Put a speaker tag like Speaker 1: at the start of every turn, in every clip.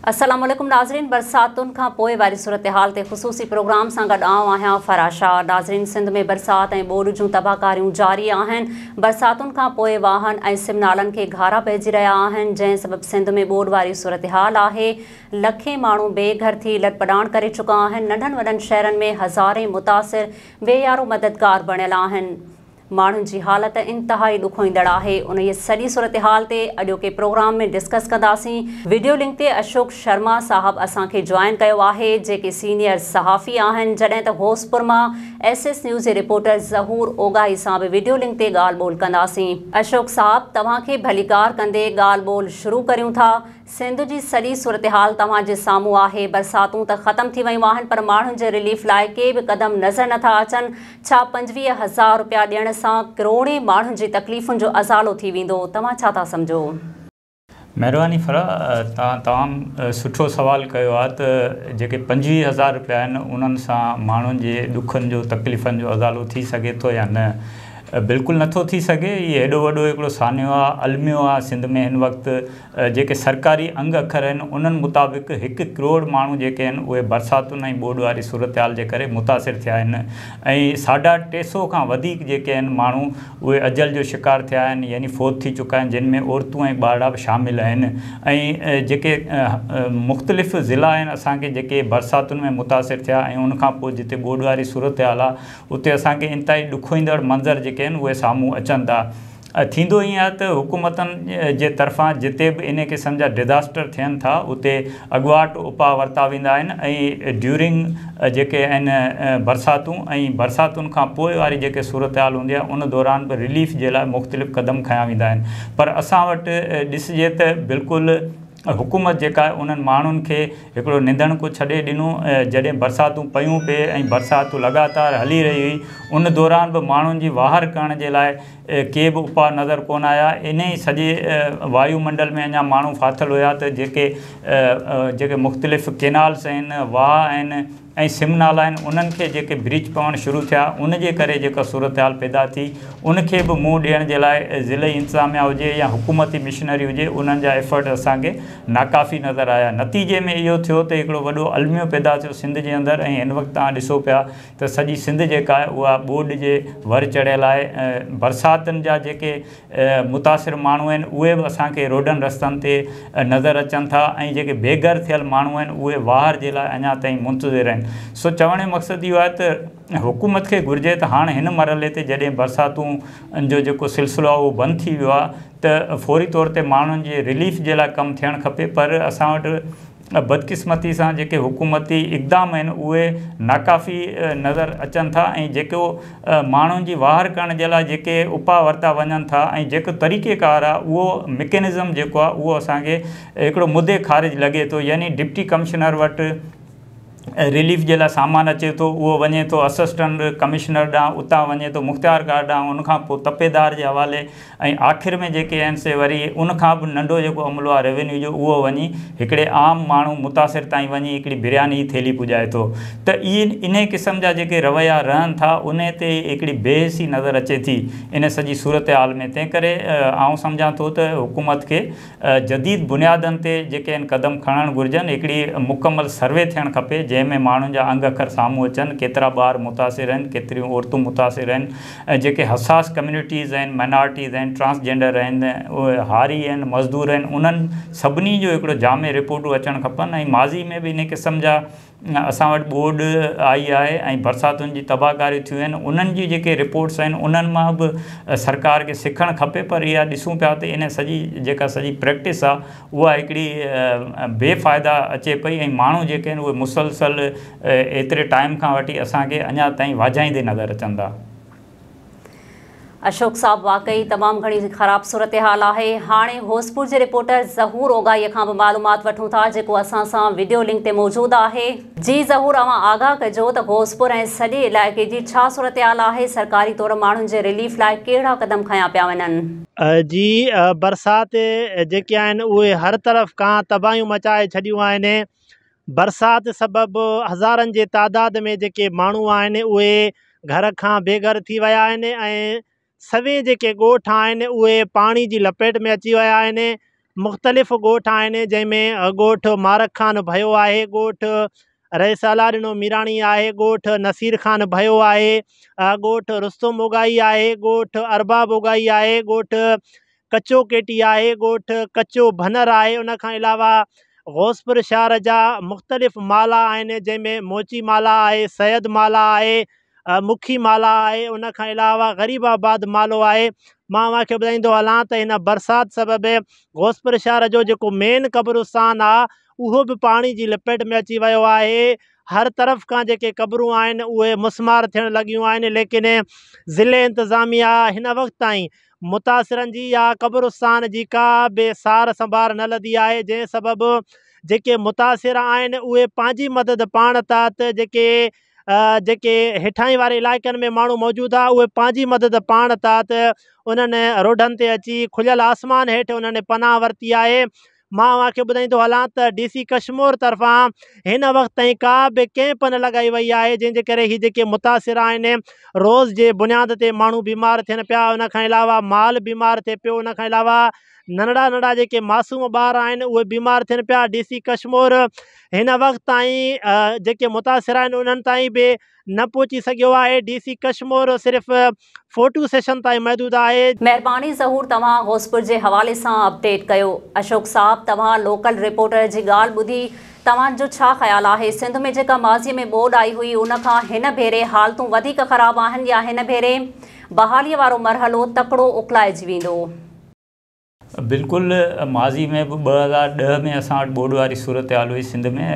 Speaker 1: السلام عليڪم ناظرين برساتن کان پوء واري صورتحال تي خصوصي پروگرام سان گڏ آئون آهيان فرا شاهه ناظرين سنڌ ۾ برسات ۽ ٻوڏ جون تباهڪاريون جاري آهن برساتن کان پوء واهن ۽ سم نالن کي گهارا پئجي رهيا آهن جنهن سبب سنڌ ۾ ٻوڏ واري صورتحال آهي لکين ماڻهو بي گهر ٿي لڏپلاڻ ڪري چڪا آهن، ننڍن وڏن شهرن ۾ هزارين متاثر بي يارو مددگار بڻيل آهن، ماڻهن جي حالت انتهائي ڏکوئيندڙ آهي، انهيء سڄي صورتحال تي اڄوڪي پروگرام ۾ ڊسڪس ڪنداسين، وڊيو لنڪ تي اشوڪ شرما صاحب اسان کي جوائن ڪيو آهي، جيڪي سينيئر صحافي آهن، جڏهن ته غوثپور مان ايس ايس نيوز جي رپورٽر ظهور اوڳاهي سان به وڊيو لنڪ تي ڳالهه ٻولهه ڪنداسين. اشوڪ صاحب توهان کي ڀليڪار ڪندي ڳالهه ٻولهه شروع ڪريون ٿا، سنڌ جي سڄي صورتحال توهان جي سامهون آهي، برساتون ته ختم ٿي ويون آهن پر ماڻهن جي رليف لاء ڪي به قدم نظر نه ٿا اچن، ڇا پنجويهه هزار رپيا ڏيڻ سان ڪروڙين ماڻهن جي تڪليفن جو ازالو ٿي ويندو، توهان ڇا ٿا سمجهو؟
Speaker 2: مهرباني فرح تان تمام سٺو سوال ڪيو آ ته جيڪي پنجويهه هزار رپيا آهن انهن سان ماڻهن جي ڏکن جو تڪليفن جو ازالو ٿي سگهي ٿو يا نه بلڪل نٿو ٿي سگهي هي هيڏو وڏو هڪڙو سانحو آ الميو آ سنڌ ۾ هن وقت جيڪي سرڪاري انگ اکر آهن انهن مطابق هڪ ڪروڙ ماڻهو جيڪي آهن اهي برساتن ۽ ٻوڏ واري صورتحال جي ڪري متاثر ٿيا آهن ۽ ساڍا ٽي سئو کان وڌيڪ جيڪي آهن ماڻهو اهي اجل جو شڪار ٿيا آهن يعني فوت ٿي چڪا آهن جن ۾ عورتون ۽ ٻارڙا به شامل آهن ۽ جيڪي مختلف ضلعا آهن اسان کي جيڪي برساتن ۾ متاثر ٿيا ۽ ان کان پوء جتي ٻوڏ واري صورتحال آهي اتي اسان کي انتهائي ڏکوئيندڙ منظر جيڪي آهن اهي سامهون اچن ٿا ٿيندو ائين آهي ته حڪومتن جي طرفان جتي به انهي قسم جا ڊزاسٽر ٿين ٿا اتي اڳواٽ اپاء ورتا ويندا آهن ۽ ڊيورنگ جيڪي آهن برساتون ۽ برساتن کان پوء واري جيڪي صورتحال هوندي آهي ان دوران به رليف جي لاء مختلف قدم کنيا ويندا آهن پر اسان وٽ ڏسجي ته بلڪل حڪومت جيڪا آهي انهن ماڻهن کي هڪڙو نندڻڪو ڇڏي ڏنو جڏهن برساتون پيون پي ۽ برسات لڳاتار هلي رهي هئي ان دوران به ماڻهن جي واهر ڪرڻ جي لاء ڪي به اپاء نظر ڪونه آيا. انهيء سڄي وايو منڊل ۾ اڃا ماڻهو ڦاٿل هيا ته جيڪي جيڪي مختلف ڪينالس آهن، واهه آهن ۽ سم نالا آهن، انهن کي جيڪي بريچ پوڻ شروع ٿيا، ان جي ڪري جيڪا صورتحال پيدا ٿي، ان کي به منهن ڏيڻ جي لاء ضلعي انتظاميا هجي يا حڪومتي مشنري هجي، انهن جا ايفرٽ اسان کي ناڪافي نظر آيا. نتيجي ۾ اهو ٿيو ته هڪڙو وڏو الميو پيدا ٿيو سنڌ جي اندر ۽ هن وقت توهان ڏسو پيا ته سڄي سنڌ جيڪا آهي اها ٻوڏ جي ور چڙهيل آهي ۽ برساتن جا جيڪي متاثر ماڻهو آهن اهي به اسان کي روڊن رستن تي نظر اچن ٿا ۽ جيڪي بي گهر ٿيل ماڻهو آهن اهي واهر جي لاء اڃا تائين منتظر آهن سو چوڻ جو مقصد اهو آهي ته حڪومت کي گهرجي ته هاڻ هن مرحلي تي جڏهن برساتون جو جيڪو سلسلو آهي اهو بند ٿي ويو آهي ته فوري طور تي ماڻهن جي رليف جي لاء ڪم ٿيڻ کپي پر اسان وٽ ۽ بدقسمتي سان جيڪي حڪومتي اقدام آهن اهي ناڪافي نظر اچن ٿا ۽ جيڪو ماڻهن جي واهر ڪرڻ جي لاء جيڪي اپاء ورتا وڃن ٿا ۽ جيڪو طريقي ڪار آهي اهو مڪينزم جيڪو آهي اهو اسان کي هڪڙو مدي خارج لڳي ٿو يعني ڊپٽي ڪمشنر وٽ رليف جي لاء سامان اچي ٿو، اهو وڃي ٿو اسسٽنٽ ڪمشنر ڏانهن، اتان وڃي ٿو مختيارڪار ڏانهن، ان کان پوء تپيدار جي حوالي ۽ آخر ۾ جيڪي آهن سي وري ان کان به ننڍو جيڪو عملو آهي روينيو جو اهو وڃي هڪڙي عام ماڻهو متاثر تائين وڃي هڪڙي برياني جي ٿيلهي پڄائي ٿو ته انهي قسم جا جيڪي رويا رهن ٿا انهي تي هڪڙي بي حسي نظر اچي ٿي انهي سڄي صورتحال ۾ تنهنڪري آئون سمجهان ٿو ته حڪومت کي جديد بنيادن تي جيڪي ان قدم کڻڻ گهرجن، هڪڙي مڪمل سروي ٿيڻ کپي، جنهن ۾ ماڻهن جا انگ اکر سامهون اچن، ڪيترا ٻار متاثر آهن، ڪيتريون عورتون متاثر آهن، جيڪي حساس ڪميونٽيز آهن، مائنارٽيز آهن، ٽرانسجينڊر آهن، هاري آهن، مزدور آهن، انهن سڀني جو هڪڙو جامع رپورٽون اچڻ کپن ۽ ماضي ۾ به انهي قسم جا اسان وٽ ٻوڏ آئي آهي ۽ برساتن جي تباهڪاريون ٿيون آهن انهن جي جيڪي رپورٽس آهن انهن مان به سرڪار کي سکڻ کپي پر اها ڏسون پيا ته ان سڄي جيڪا سڄي پريڪٽس آهي اها هڪڙي بي فائده اچي پئي ۽ ماڻهو جيڪي آهن اهي مسلسل ايتري ٽائيم کان وٺي اسان کي اڃا تائين واجهائيندي نظر اچن ٿا اشوڪ
Speaker 1: صاحب واقعي تمام گھڻي خراب صورتحال آهي هاڻي هوسپور جي رپورٽر ظهور اوگائي کان به معلومات وٺون ٿا جيڪو اسان سان ويڊيو لنڪ تي موجود آهي جي ظهور اوهان آگاهه ڪجو ته هوسپور ۽ سڄي علائقي جي ڇا صورتحال آهي سرڪاري طور ماڻهن جي رليف لاء ڪهڙا قدم کنيا پيا وڃن. جي
Speaker 3: برسات جيڪي آهن اهي هر طرف کان تباهيون مچائي ڇڏيون آهن برسات سبب هزارن جي تعداد ۾ جيڪي ماڻهو آهن اهي گهر کان بي گهر ٿي ويا آهن ۽ سوين جيڪي ڳوٺ آهن اهي پاڻي جي لپيٽ ۾ اچي ويا آهن مختلف ڳوٺ آهن جنهن ۾ ڳوٺ مارڪ خان ڀيو آهي ڳوٺ رئيس الله ڏنو ميراڻي آهي ڳوٺ نصير خان ڀيو آهي ڳوٺ رستم اوگائي آهي ڳوٺ ارباب اوگائي آهي ڳوٺ ڪچو ڪي ٽي آهي، ڳوٺ ڪچو ڀنر آهي، ان کان علاوه غوثپور شهر جا مختلف مالا آهن جنهن ۾ موچي مالا آهي، سيد مالا آهي، مکي مالا آهي، ان کان علاوه غريب آباد مالو آهي. مان اوهان کي ٻڌائيندو هلان ته هن برسات سبب غوثپور شهر جو جيڪو مين قبرستان آهي اهو به پاڻي جي لپيٽ ۾ اچي ويو آهي، هر طرف کان جيڪي قبرون آهن اهي مسمار ٿيڻ لڳيون آهن ليڪن ضلعي انتظاميا هن وقت تائين متاثرن جي يا قبرستان جي ڪا به سار سنڀار نه لڌي آهي جنهن سبب جيڪي متاثر آهن اهي پنهنجي مدد پاڻ ٿا ته جيڪي جيڪي هيٺاهين واري علائقن ۾ ماڻهو موجود آهي اهي پنهنجي مدد پاڻ ٿا ته انهن روڊن تي اچي کليل آسمان هيٺ انهن پناهه ورتي آهي مان اوهان کي ٻڌائيندو هلان ته ڊي سي ڪشمور طرفان هن وقت تائين ڪا به ڪيمپ نه لڳائي وئي آهي جنهن جي ڪري هي جيڪي متاثر آهن روز جي بنياد تي ماڻهو بيمار ٿين پيا ان کان علاوه مال بيمار ٿئي پيو ان کان علاوه ننڍڙا ننڍڙا جيڪي معصوم ٻار آهن اهي بيمار ٿين پيا ڊي سي ڪشمور هن وقت تائين جيڪي متاثر آهن انهن تائين به نه پهچي سگهيو آهي، ڊي سي ڪشمور صرف فوٽو سيشن تائين محدود آهي. مهرباني ظهور
Speaker 1: توهان غوثپور جي حوالي سان اپڊيٽ ڪيو. اشوڪ صاحب توهان لوڪل رپورٽر جي ڳالهه ٻڌي توهان جو ڇا خيال آهي سنڌ ۾ جيڪا ماضي ۾ ٻوڏ آئي هئي ان کان هن ڀيري حالتون وڌيڪ خراب آهن يا هن ڀيري بحالي وارو مرحلو تڪڙو اڪلائجي ويندو.
Speaker 2: بلڪل ماضي ۾ به ٻه هزار ڏهه ۾ اسان وٽ ٻوڏ واري صورتحال هئي سنڌ ۾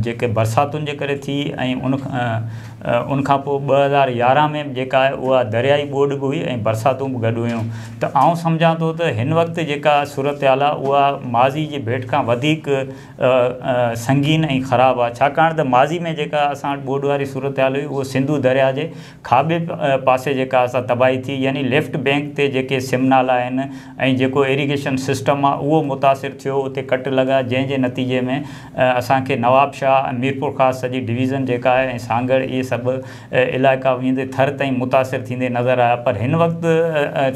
Speaker 2: جيڪي برساتن جي ڪري ٿي ۽ ان ان کان پوء ٻه هزار يارهن ۾ به جيڪا آهي اها دريائي ٻوڏ به هئي ۽ برساتون به گڏ هيون ته آئون سمجهان ٿو ته هن وقت جيڪا صورتحال آهي اها ماضي جي ڀيٽ کان وڌيڪ سنگين ۽ خراب آهي ڇاڪاڻ ته ماضي ۾ جيڪا اسان وٽ ٻوڏ واري صورتحال هئي اهو سنڌو درياء جي کاٻي پاسي جيڪا اسا تباهي ٿي يعني ليفٽ بينڪ تي جيڪي سم نالا آهن ۽ جيڪو ايريگيشن سسٽم آ اهو متاثر ٿيو اتي ڪٽ لڳا جنهن جي نتيجي ۾ اسان کي نوابشاهه ۽ ميرپورخاص سڄي ڊويزن جيڪا آهي ۽ سانگهڙ اهي سڀ علائقا ويندي ٿر تائين متاثر ٿيندي نظر آيا پر هن وقت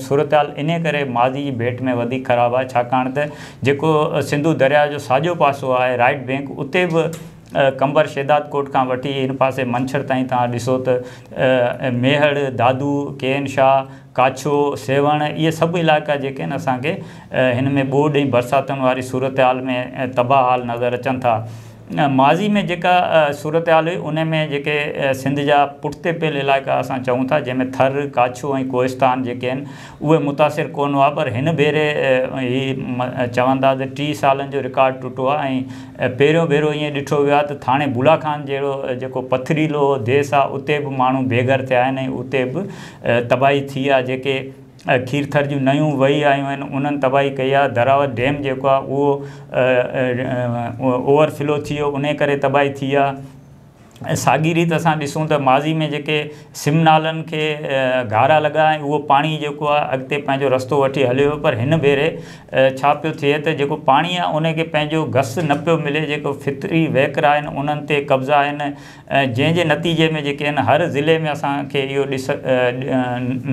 Speaker 2: صورتحال انهي ڪري ماضي جي ڀيٽ ۾ وڌيڪ خراب آهي ڇاڪاڻ ته جيڪو سنڌو درياهه جو ساڄو پاسو آهي رائيٽ بينڪ اتي به قنبر شهدادڪوٽ کان وٺي هن پاسي منڇر تائين توهان ڏسو ته ميهڙ، دادو، ڪي اين شاهه، ڪاڇو، سيوهڻ اهي سڀ علائقا جيڪي آهن اسان کي هن ۾ ٻوڏ ۽ برساتن واري صورتحال ۾ تباهه حال نظر اچن ٿا. ماضي ۾ جيڪا صورتحال هئي ان ۾ جيڪي سنڌ جا پٺتي پيل علائقا اسان چئون ٿا جنهن ۾ ٿر، ڪاڇو ۽ ڪوهستان جيڪي آهن اهي متاثر ڪونه هئا پر هن ڀيري هي چون ٿا ته ٽي سالن جو رڪارڊ ٽٽو آهي ۽ پهريون ڀيرو ائين ڏٺو ويو آهي ته ٿاڻي بولا خان جهڙو جيڪو پٿريلو ديس آهي اتي به ماڻهو بي گهر ٿيا آهن ۽ اتي به تباهي ٿي آهي جيڪي کيرٿر جون نيون وهي آيون آهن انهن تباهي ڪئي آهي دراوت ڊيم جيڪو آهي اهو اوور فلو ٿي ويو انهي ڪري تباهي ٿي آهي ۽ ساڳي ريت اسان ڏسون ته ماضي ۾ جيڪي سم نالن کي گهارا لڳا ۽ اهو پاڻي جيڪو آهي اڳتي پنهنجو رستو وٺي هليو ويو پر هن ڀيري ڇا پيو ٿئي ته جيڪو پاڻي آهي ان کي پنهنجو گس نه پيو ملي جيڪو فطري وهڪرا آهن انهن تي قبضا آهن جنهن جي نتيجي ۾ جيڪي آهن هر ضلعي ۾ اسان کي اهو ڏس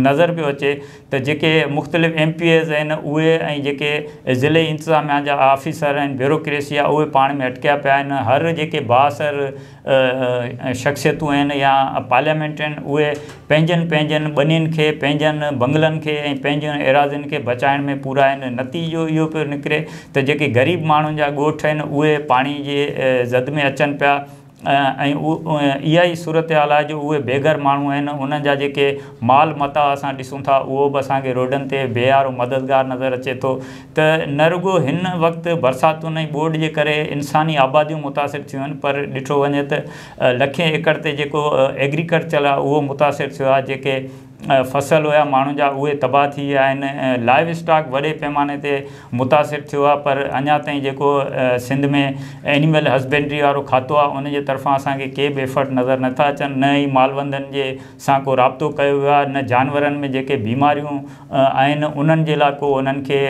Speaker 2: نظر پيو اچي ته جيڪي مختلف ايم پي ايز آهن اهي ۽ جيڪي ضلعي انتظاميا جا آفيسر ۽ بيوروڪريسي آهي اهي پاڻ ۾ اٽڪيا پيا آهن هر جيڪي بااثر شخصيتون آهن يا پارليامينٽ آهن اهي پنهنجن پنهنجن ٻنين کي پنهنجن بنگلن کي ۽ پنهنجن ايراضين کي بچائڻ ۾ پورا آهن نتيجو اهو پيو نڪري ته جيڪي غريب ماڻهن جا ڳوٺ آهن اهي پاڻي جي زد ۾ اچن پيا ۽ اها ئي صورتحال آهي جو اهي بي گهر ماڻهو آهن انهن جا جيڪي مال متاع اسان ڏسون ٿا اهو به اسان کي روڊن تي بيهارو مددگار نظر اچي ٿو ته نه رڳو هن وقت برساتن ۽ ٻوڏ جي ڪري انساني آباديون متاثر ٿيون آهن پر ڏٺو وڃي ته لکين ايڪڙ تي جيڪو ايگريڪلچر آهي اهو متاثر ٿيو آهي جيڪي فصل هيا ماڻهن جا اهي تباهه ٿي ويا آهن لائيو اسٽاڪ وڏي پيماني تي متاثر ٿيو آهي پر اڃا تائين جيڪو سنڌ ۾ اينيمل هسبينڊري وارو کاتو آهي ان جي طرفان اسان کي ڪي به ايفرٽ نظر نٿا اچن نه ئي مالوندن جي سان ڪو رابطو ڪيو ويو آهي نه جانورن ۾ جيڪي بيماريون آهن انهن جي لاء ڪو انهن کي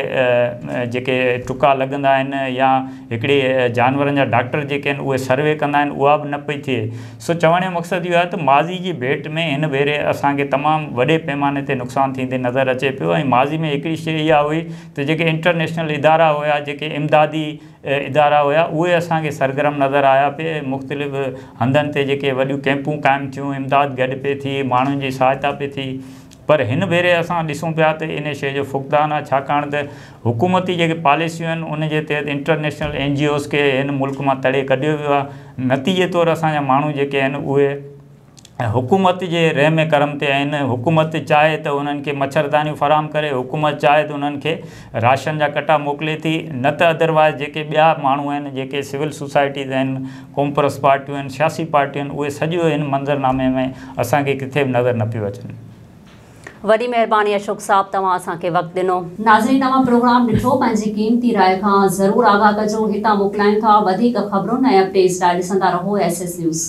Speaker 2: جيڪي ٽڪا لڳندا آهن يا هڪڙي جانورن جا ڊاڪٽر جيڪي آهن اهي سروي ڪندا آهن اها به نه پئي ٿئي سو چوڻ جو مقصد اهو آهي ته ماضي جي ڀيٽ ۾ هن ڀيري اسان کي تمام وڏي پيماني تي نقصان ٿيندي نظر اچي پيو ۽ ماضي ۾ هڪڙي شيء اها هئي ته جيڪي انٽرنيشنل ادارا هيا جيڪي امدادي ادارا هيا اهي اسان کي سرگرم نظر آيا پي مختلف هنڌن تي جيڪي وڏيون ڪئمپون قائم ٿيون امداد گڏ پي ٿي ماڻهن جي سهائتا پي ٿي پر هن ڀيري اسان ڏسون پيا ته ان شيء جو فقدان آهي ڇاڪاڻ ته حڪومتي جيڪي پاليسيون آهن ان جي تحت انٽرنيشنل اين جي اوز کي هن ملڪ مان تڙي ڪڍيو ويو آهي نتيجي طور اسان جا ماڻهو جيڪي آهن اهي حڪومت جي رحم ڪرم تي آهن حڪومت چاهي ته انهن کي مڇردانيون فراهم ڪري حڪومت چاهي ته انهن کي راشن جا ڪٽا موڪلي ٿي نه ته ادروائز جيڪي ٻيا ماڻهو آهن جيڪي سول سوسائٽيز آهن قومپرست پارٽيون آهن سياسي پارٽيون آهن اهي سڄو هن منظرنامي ۾ اسان کي ڪٿي به نظر نه پيو اچن. وڏي
Speaker 1: مهرباني اشوڪ صاحب توهان اسان کي وقت ڏنو. ناظرين توهان پروگرام ڏٺو پنهنجي قيمتي راء کان ضرور آگاهه ڪجو هتان موڪلايون ٿا وڌيڪ خبرون ۽ اپڊيٽس لاء ڏسندا رهو ايس ايس نيوز.